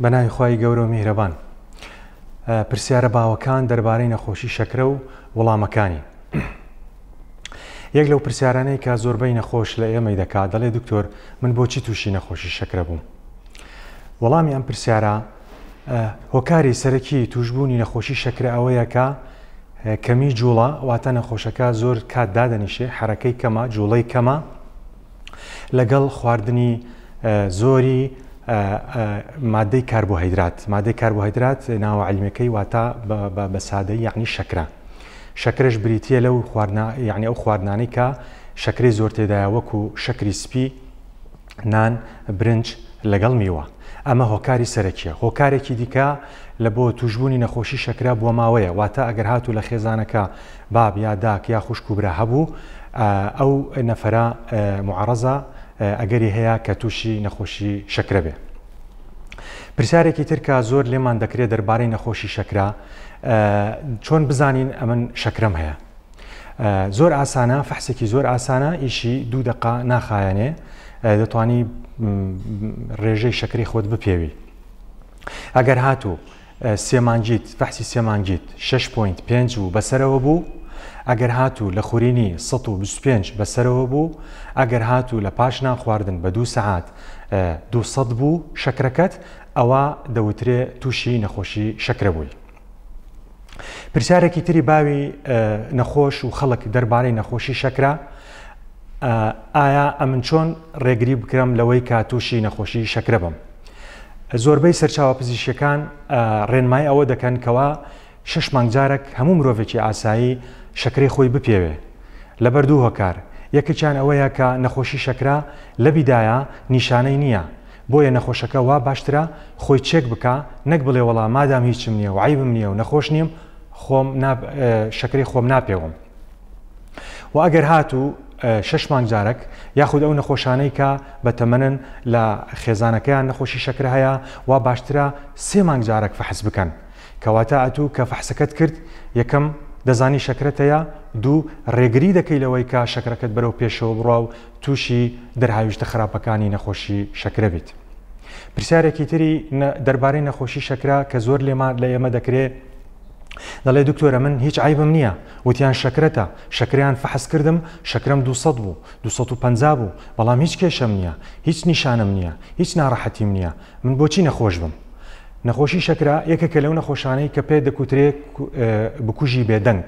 بە ناوی خوای گەورە و میهرەبان. پرسیارە باوەکان دەربارەی نەخۆشی شەکرە و وڵامەکانی. یەک لەو پرسیارانەی کە زۆربەی نەخۆش لە ئێمەی دەکات دەڵێ دکتۆر من بۆچی تووشی نەخۆشی شەکرە بووم. وەڵامی ئەم پرسیارە هۆکاری سەرەکی توشببوونی نەخۆشی شەکرە ئەوەیەکە کەمی جوڵە واتە نەخۆشەکە زۆر کات دادەنیشێ حرەکەی کەمە جوڵەی کەمە لەگەڵ خواردنی زۆری مادەی کاربۆهیدرات مادەی کاربۆهیدرات ناوە علیمەکەی واتا بە سادەی یعنی شەکرە شەکرش بریتە لەو خواردنا یعنی ئەو خواردنانەی کە شەکری زۆر تێدایە وەکو شەکری سپی نان برنج لەگەڵ میوە ئەمە هۆکاری سەرەکیە هۆکارێکی دیکە لە بۆ توشببوونی نەخۆشی شەکرا بۆ ماوەیە واتە ئەگەر هاتوو لە خێزانەکە باب یا داک یا خوشک و برا هەبوو ئەو نەفەرە معەڕەزە ئەگەری هەیە کە تووشی نەخۆشی شەکرە بێ. پرسیارێکی تر کە زۆر لێمان دەکرێ دەربارەی نەخۆشی شەکرە چۆن بزانین ئەمن شەکرەم هەیە؟ زۆر ئاسانە فەحسێکی زۆر ئاسانە ئیشی دوو دەقا ناخایەنێ دەتوانی ڕێژەی شەکری خۆت بپێوی. ئەگەر هاتوو سێ مانگیت فەحسی سێ مانگیت شەش پۆینت پێنج و بەسەرەوە بوو ئەگەر هاتوو لە خورینی سەد و بیست و پێنج بەسەرەوە بوو ئەگەر هاتوو لە پاش نان خواردن بە دوو سەعات دوو سەد بوو شەکرەکەت ئەوە دەوترێ تووشی نەخۆشی شەکرە بووی. پرسیارێکی تری باوی نەخۆش و خەڵک دەربارەی نەخۆشی شەکرە ئایا ئەمن چۆن ڕێگری بکرم لەوەی کە تووشی نەخۆشی شەکرە بم؟ زۆربەی سەرچاوە پزیشکیەکان ڕێنمای ئەوە دەکەن کەوا شش مانگ جارەک هەموو مرۆڤێکی ئاسایی شەکرەی خۆی بپێوێ لەبەر دوو هۆکار، یەکێکیان ئەوەیە کە نەخۆشی شەکرە لەبیدایا نیشانەی نییە بۆیە نەخۆشەکە وا باشترە خۆی چێک بکا نەک بڵێ وەڵا مادام هیچم نییە و عەیبم نییە و نەخۆش نیم خۆم شەکرەی خۆم ناپێوم. و ئەگەر هاتوو شش مانگ جارەک یاخود ئەو نەخۆشانەی کە بە تەمەنن لە خێزانەکەیان نەخۆشی شەکرە هەیە وا باشترە سێ مانگ جارەک فەحس بکەن کەواتە ئەتوو کە فەحسەکەت کرد یەکەم دەزانی شەکرەتەیە دوو ڕێگری دەکەی لەوەی کە شەکرەکەت بەرەو پێشەوە بڕوا و تووشی دەرهاویشتە خراپەکانی نەخۆشی شەکرە بیت. پرسیارێکی تری دەربارەی نەخۆشی شەکرا کە زۆر لێمان لە ئێمە دەکرێت دەڵێ دکتۆرە من هیچ عەیبم نیە وتیان شەکرەتە شەکرەیان فەحس کردم شەکرەم دوو سەد بوو دوو سەد و پەنجا بوو بەڵام هیچ کێشەم نیە هیچ نیشانەم نیە هیچ نارەحەتیم نیە من بۆچی نەخۆش بم نەخۆشی شەکرە یەکێکە لەو نەخۆشانەی کە پێ دەکوترێ بکوژی بێدەنگ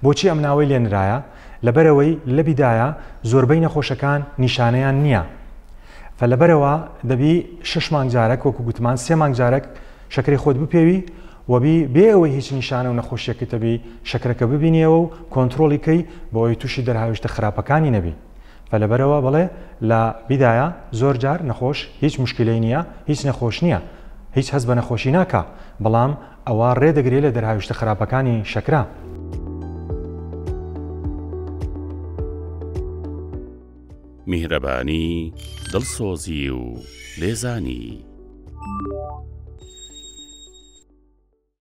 بۆچی ئەم ناوەی لێنرایە لەبەرەوەی لەبیدایە زۆربەی نەخۆشەکان نیشانەیان نییە فەلەبەرەوە دەبی شش مانگجارەک وەکو گوتمان سێ مانگجارەک شەکری خۆت بپێوی وەبی بێ ئەوەی هیچ نیشانە و نەخۆشیەکی تەبی شەکرەکە ببینیەوە و کۆنترۆڵی کەی بەوەی توشی دەرهاویشتە خراپەکانی نەبی فە لەبەرەوە بڵێ لە بیدایە زۆر جار نەخۆش هیچ موشکیلەی نیە هیچ نەخۆش نیە هیچ هەست بە نەخۆشی ناکا بەڵام ئەوە ڕێ دەگرێ لە دەرهاویشتە خراپەکانی شەکرە. میهرەبانی، دڵسۆزی و لێزانی.